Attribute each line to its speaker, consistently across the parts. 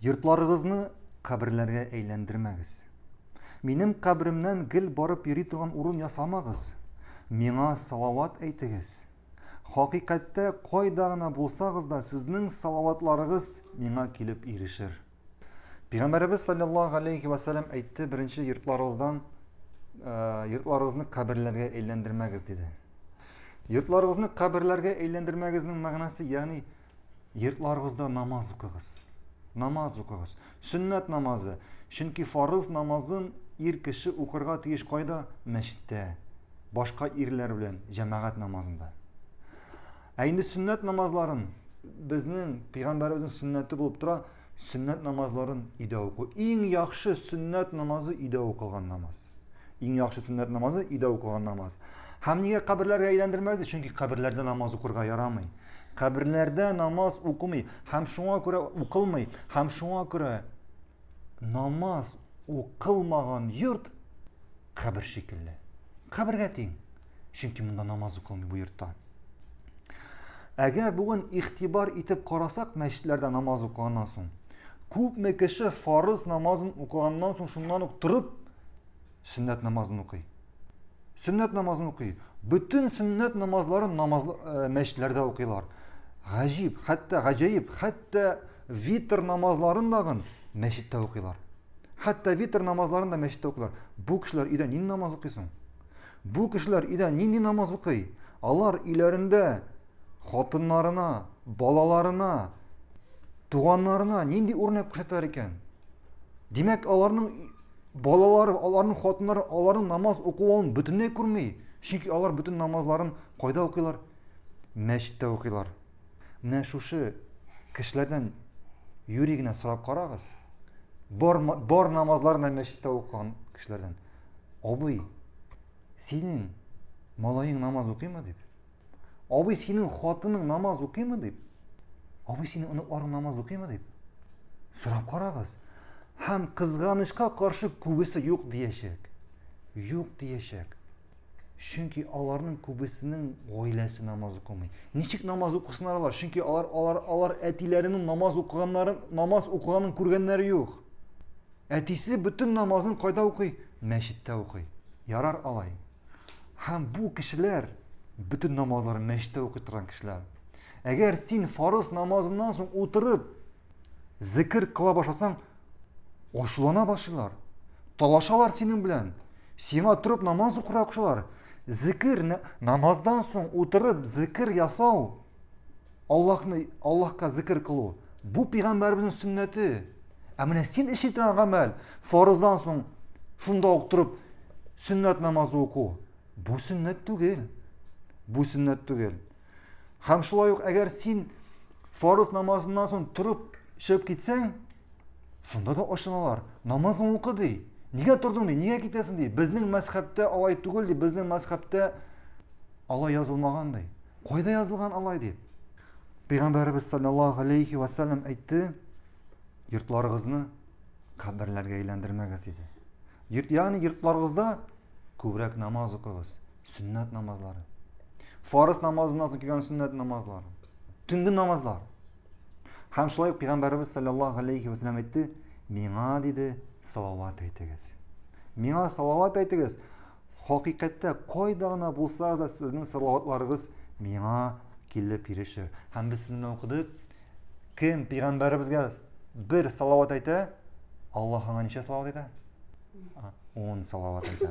Speaker 1: Йортларыгызны каберләргә әйләндермәгез. Минем каберемнән гел барып йөри торган урын ясамагыз. Миңа салават әйтегез. Хакыйкатьтә кайда гына булсагыз да, сезнең салаватларыгыз миңа килеп ирешер. Пәйгамбәребез саллаллаһу алейхи ва саллям әйтте, беренче йортларыгыздан э, йортларыгызны каберләргә әйләндермәгез диде. Йортларыгызны каберләргә әйләндермәгезнең мәгънәсе, ягъни йортларыгызда намаз укыгыз. Намаз укыгыз. Сөннәт намазы. Чөнки фарыз намазын ир кеше укырга тиеш кайда? Мәчеттә. Башка ирләр белән җәмәгать намазында. Ә инде сөннәт намазларын безнең пәйгамбәребезнең сөннәте булып тора, сөннәт намазларын өйдә уку. Иң яхшы сөннәт намазы өйдә укылган намаз. Иң яхшы сөннәт намазы өйдә укылган намаз. Һәм нигә каберләргә әйләндермәде? Чөнки каберләрдә намаз укырга ярамый. Каберләрдә намаз укымый һәм шуңа күрә укылмый һәм шуңа күрә намаз укылмаган йорт кабер шикелле. Кабергә тиң. Чөнки монда намаз укылмый бу йортта. Әгәр бүген игътибар итеп карасак мәчетләрдә намаз укыганнан соң, күпме кеше фарыз намазын укыганнан соң шуннан ук торып сөннәт намазын укый. Сөннәт намазын укый. Бөтен сөннәт намазларын намаз э, мәчетләрдә укыйлар. Гаҗиб, хәтта гаҗәеп, хәтта витр намазларын дагын мәчеттә укыйлар. Хәтта витр намазларын да мәчеттә укыйлар. Бу кешеләр өйдә нинди намаз укыйсың? Бу кешеләр өйдә нинди намаз укый? Алар өйләрендә хатыннарына, балаларына, туганнарына нинди үрнәк күрсәтәләр икән? Димәк, аларның балалары, аларның хатыннары аларның намаз укуын бөтенләй күрми. Чөнки алар бөтен намазларын кайда укыйлар? Мәчеттә укыйлар. Менә шушы кешеләрдән юри генә сорап карагыз. Бар, бар намазларны мәчеттә укыган кешеләрдән. Абый, синең малаең намаз укыймы дип? Абый, синең хатының намаз укыймы дип? Абый, синең оныкларың намаз укыймы дип? Сорап карагыз. Һәм кызганычка каршы күбесе юк диячәк. Юк диячәк. Чөнки аларның күбесенең гаиләсе намаз укымый. Ничек намаз укысыннар алар? Чөнки алар алар алар әтиләренең намаз укыганнары, намаз укыганын күргәннәре юк. Әтисе бөтен намазын кайда укый? Мәчеттә укый. Ярар алай. Һәм бу кешеләр бөтен намазларын мәчеттә укый торган кешеләр. Әгәр син фарыз намазыннан соң утырып Зекер кыла башласаң, ачулана башлыйлар. Талашалар синең белән. Сиңа торып намаз укырга кушалар. Зекер намаздан соң утырып зекер ясау Аллаһны Аллаһка зекер кылу. Бу пәйгамбәребезнең сөннәте. Ә менә син эшли торган гамәл, фарыздан соң шунда ук торып сөннәт намазы уку. Бу сөннәт түгел. Бу сөннәт түгел. Һәм шулай ук әгәр син фарыз намазыннан соң торып чыгып китсәң, шунда да ачыналар. Намазын укы ди. Нигә тордың ди? Нигә китәсең ди? Безнең мәзхәбтә алай түгел ди. Безнең мәзхәбтә алай язылмаган ди. Кайда язылган алай ди? Пәйгамбәрбез саллаллаһу алейхи ва саллям әйтте, йортларыгызны каберләргә әйләндермәгез диде. Йорт, ягъни йортларыгызда күбрәк намаз укыгыз. Сөннәт намазлары. Фарыз намазыннан соң килгән сөннәт намазлары. Төнге намазлар. Һәм шулай пәйгамбәрбез саллаллаһу алейхи ва саллям әйтте, миңа диде, салават әйтегез. Миңа салават әйтегез. Хакыйкатьтә кайда гына булсагыз да сезнең салаватларыгыз миңа килеп ирешер. Һәм без сезне укыдык. Кем пәйгамбәребезгә бер салават әйтә, Аллаһ аңа ничә салават әйтә? 10 салават әйтә.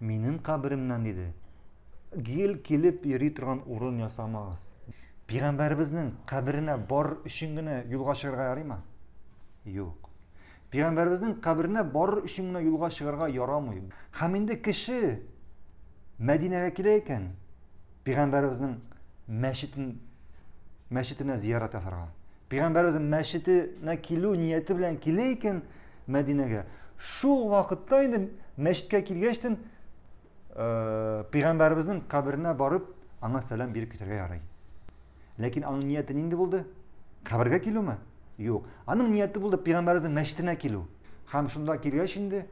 Speaker 1: Минем каберемнән диде. Гел килеп йөри торган урын ясамагыз. Пигамбәребезнең каберенә бар өчен генә юлга чыгарга ярыймы? Юк. Пигамбәребезнең каберенә бар өчен генә юлга чыгарга ярамый. Һәм инде кеше Мәдинәгә килә икән, пигамбәребезнең мәчетен мәчетенә зиярат ясарга. Пәйгамбәребезнең мәчетенә килү нияте белән килә икән Мәдинәгә. Шул вакытта инде мәчеткә килгәчтен э, пәйгамбәребезнең каберенә барып, аңа сәлам биреп китәргә ярый. Ләкин аның нияте нинди булды? Кабергә килүме? Юк. Аның нияте булды пәйгамбәребезнең мәчетенә килү. Һәм шунда килгәч инде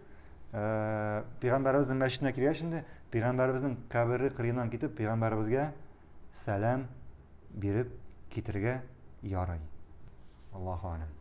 Speaker 1: э, пәйгамбәребезнең мәчетенә килгәч инде пәйгамбәребезнең кабере кырыеннан китеп пәйгамбәребезгә сәлам биреп китергә ярый. Аллаһу алям.